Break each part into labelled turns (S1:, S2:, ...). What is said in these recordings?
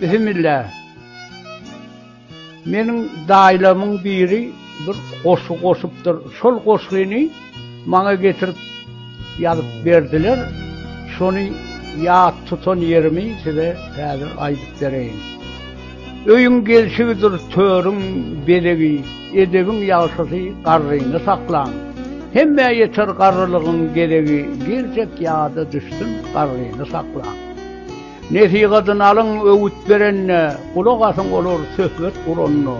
S1: Bismillah. Meniň daýlamyň biri bir goşgy goşupdyr. Şol goşgyny maňa getirip ýazyp berdiler. Şony ýat tutan ýerimi size häzir aýdyp bereýin. Öýüň gelşigidir törüň belegi, edebiň ýagşysy garryny saklan. Hemme ýeter garrylygyň geregi, geljek ýada düşsün garryny saklan. Nesihatyny alyň, öwüt berende, gulak asyň olar söhbet guranda,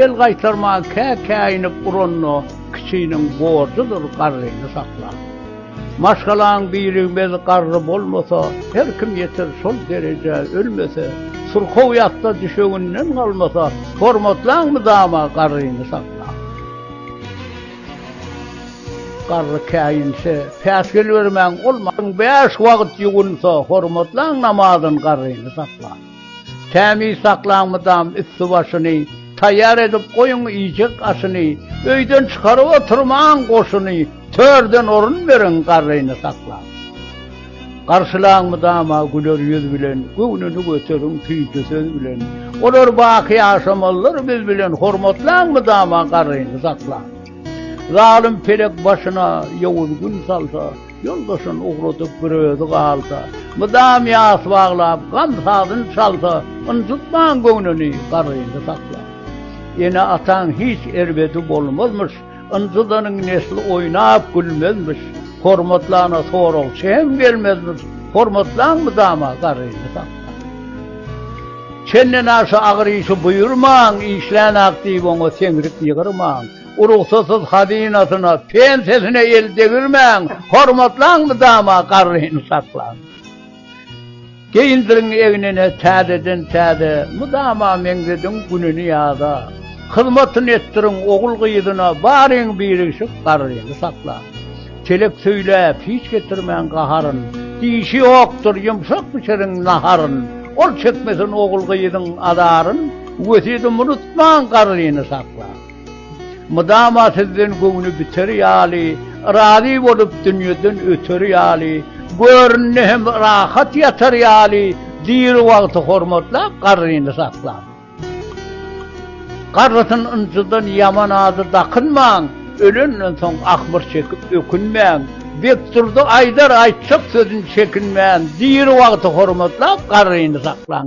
S1: el gaýtarman kä-käýinip uranda, kiçiniň borjudyr garryny saklap. Maşgalaň birigmez garry bolmasa, her kim ýeter şol derejä ölmese, syrkaw ýatda düşeginden galmasa, hormatlaň mydama garryny saklap. Garry käýinse, päsgel bermäň, ol maň bäş wagt ýuwunsa, hormatlaň namazyn garryny saklaň. Tämiz saklaň mydam üsti-başyny, taýýar edip goýuň iýjek aşyny, öýden çykaryp oturmaň goşuny, törden orun beriň garryny saklaň. Garşylaň mydama güler ýüz bilen, Göwnüni göteriň süýji söz bilen. Olar baky ýaşamalydyr biz bilen, Hormatlaň mydama garryny saklaň. Zalym pelek başyna ýowuz gün salsa, Ýoldaşyn ugradyp bir özi galsa, Mydam ýas baglap gam sazyn çalsa, Ynjytmaň göwnüni, garryny saklaň. Ene-ataň hiç erbedi bolmazmyş, Ynjydanyň nesli oýnap gülmezmiş, Hormatly ana soragçy hem gelmezmiş, Hormatlaň mydama garyny sakla. Çenden aşa agyr işi buýurmaň, Işlän-ak diýip oňa seňrik ýygyrmaň, Urugsasyz hazynasyna, pensiýasyna el degirmäň, Hormatlaň mydama garyny sakla. Geýindirin egnine täzeden-täze, mydama meňzediň gününi ýaza. Hyzmatyny etdiriň ogul-gyzyna, baryň birigşik garryny sakla. Telek söýläp, hiç getirmäň gaharyn, dişi ýokdur, ýumşak bişiriň naharyn. Ol çekmesin ogul-gyzyň azaryn, wesýedimi unutmaň garryny sakla. Mydama sizden göwni biter ýaly, Razy bolup dünýeden öter ýaly, Görnde hem rahat ýatar ýaly, Diri wagty hormatlap, garryny saklap. Garrysyn ynjydan ýaman ady dakynmaň, Ölenden soň ahmyr çekip ökünmäň, Bekdurdy aýdar aýtjak sözün çekinmän, Diri wagty hormatlap, garryny saklaň.